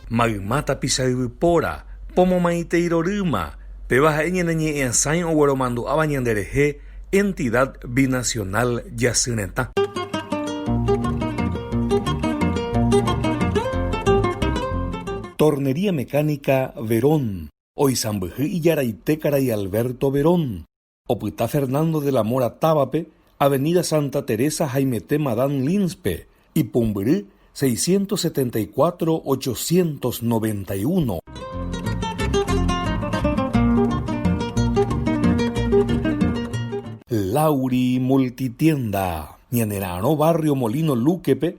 Mayma tapicha yvypóra, pomomaitei rorýma, péva ha'e ñane ñe'ẽasãi ogueromandu'áva ñanderehe Entidad Binacional Jasy Retã. Tornería Mecánica Verón. Oisãmbyhy ijaraite karai Alberto Verón, opyta Fernando de la Mora távape, Avenida Santa Teresa haimete Madame Lindspe, ipumbyry 674 891. Lauri Multitienda, ñanera'arõ barrio Molino Luque-pe,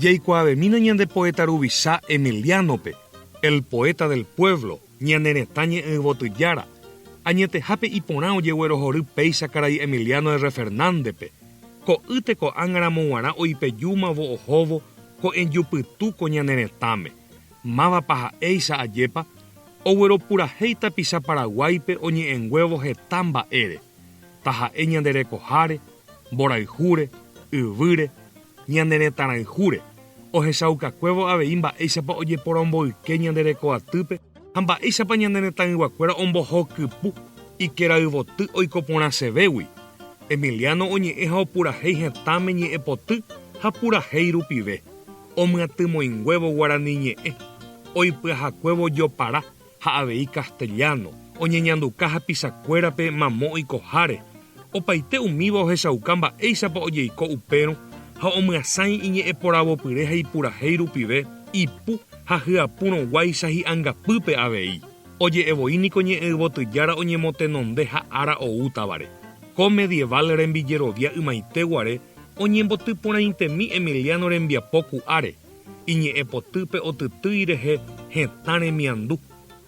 Jaikuaavemína ñande poéta ruvicha Emiliánope, El poeta del pueblo, Ñane Retã Ñe'ẽyvoty Jára, añetehápe iporã ojeguerohory péicha karai Emiliano R. Fernándepe, ko'ýte ko'ág̃aramo g̃uarã oipejúmavo ohóvo ko'ẽjupytũ ko ñane retãme, Mávapa ha'éicha ajépa ogueropurahéi tapicha Paraguáipe oñe'ẽnguévo heta mba'ére, taha'e ñande rekoháre, mborayhúre, yvýre, ñane retãrayhúre, ohechaukakuévo avei mba'éichapa ojeporomboyke ñande rekoatýpe ha mba'éichapa ñane retãyguakuéra ombohokypu ikerayvoty oiko porãsevégui, Emiliano oñe'ẽ ha opurahéi hetãme ñe'ẽpoty ha purahéi rupive. Omyatymoinguévo guarani ñe'ẽ, oipyahakuévo jopara ha avei castellano, oñeñanduka hapichakuérape mamo oikoháre, opaite umíva ohechauka mba'éichapa ojeiko upérõ ha omyasãi iñe'ẽporavopyre ha ipurahéi rupive ipu ha hyapurõguáicha hi'angapýpe avei. Oje'evoi niko ñe'ẽ yvotyjára oñemotenonde ha ára oútavare. Ko medieval rembijerovia ymaite guare Oñemboty porãitemi Emiliano rembiapo ku'áre, iñe'ẽpotýpe otytýi rehe hetã remiandu,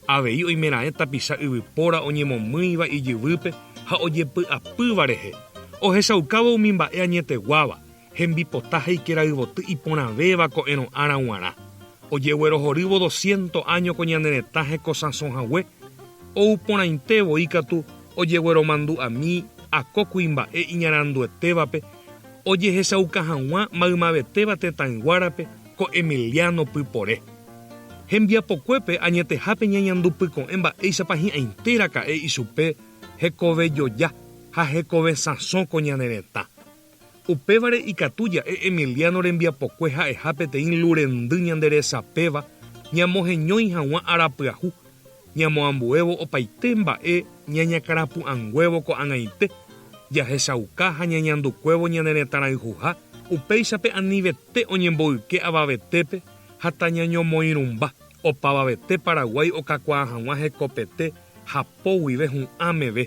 avei oimeraẽ tapicha yvypóra oñemomýiva ijyvýpe ha ojepy'apýva rehe, ohechaukávo umi mba'e añeteguáva, hembipota ha ikerayvoty iporãvéva ko'ẽrõ ára g̃uarã. Ojeguerohorývo dosciento áño ko ñane retã hekosãsõ hague, ou porãite voi katu ojegueromandu'ami ako kuimba'e iñaranduetévape ojehechauka hag̃ua maymavetéva tetãyguárape ko Emiliano pypore. Hembiapokuépe añetehápe ñañandu pyko'ẽ mba'éichapa hi'ãite raka'e ichupe hekove joja ha hekove sãso ko ñane retã. Upévare ikatu ja'e Emiliano rembiapokue ha'eha peteĩ lu rendy ñande resapéva ñamoheñói hag̃ua ára pyahu, ñamoambuévo opaite mba'e ñañakarapu'ãnguévo ko'ag̃aite, jahechauka ha ñañandukuévo ñane retãrayhuha, upéichape anivete oñemboyke avavetépe ha tañañomoirũmba opavavete Paraguái okakuaa hag̃ua hekopete hapo guive hu'ã meve.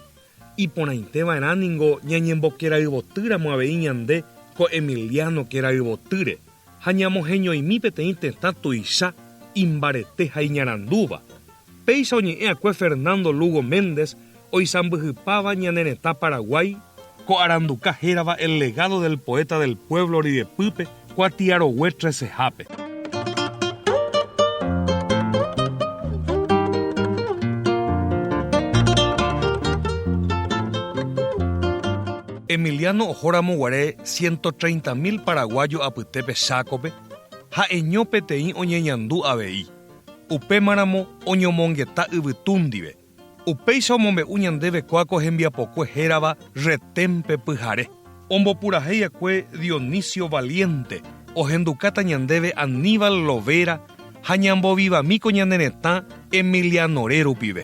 Iporãiteva'erã ningo ñañembokerayvotýramo avei ñande ko Emiliano kerayvotýre ha ñamoheñoimi peteĩ tetã tuicha imbarete ha iñarandúva, péicha oñe'ẽ'akue Fernando Lugo Méndez oisãmbyhypáva ñane retã Paraguái, ko aranduka hérava El legado del poeta del pueblo ryepýpe, Kuatiarogue tresehápe. Emiliano ohóramo guare ciento treinta mil paraguayo apytépe Chácope, ha'eño peteĩ oñeñandu avei, upémaramo oñomongeta yvytúndive. Upéicha omombe'u ñandéve kuáko hembiapokue hérava Retémpe pyhare. Ombopurahéi akue Dionisio Valiente, ohendukáta ñandéve Aníbal Lovera ha ñambovivamíko ñane retã Emilianore rupive.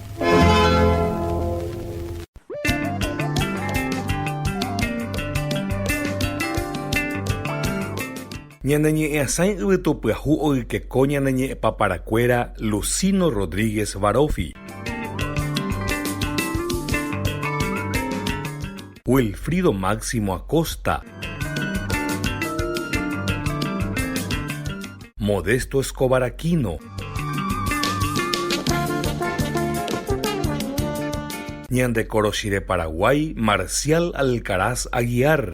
Ñaneñe'ẽasãi yvytopyahu oykeko ñane ñe'ẽpaparakuéra Lucino Rodríguez Varofi. Wilfrido Máximo Acosta. Modesto Escobar Aquino. Ñande korochi de Paraguay Marcial Alcaraz Aguiar.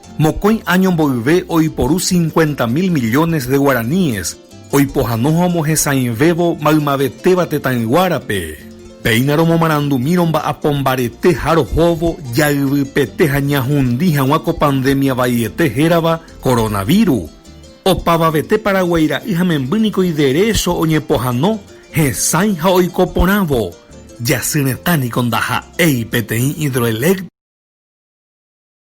Mokõi áño mboyve oiporu cincuenta mil millones de guaraníes oipohanoha omohesãivévo maymavetéva tetãyguárape. Péina romomarandumírõ mba'apo mbarete ha rohóvo jayvypete ha ñahundi hag̃ua ko pandemia vaiete hérava coronaviru. Opavavete Paraguái ra'y ha memby niko iderecho oñepohano hesãi ha oiko porãvo. Jasy retã niko ndaha'éi peteĩ hidroeléctrica.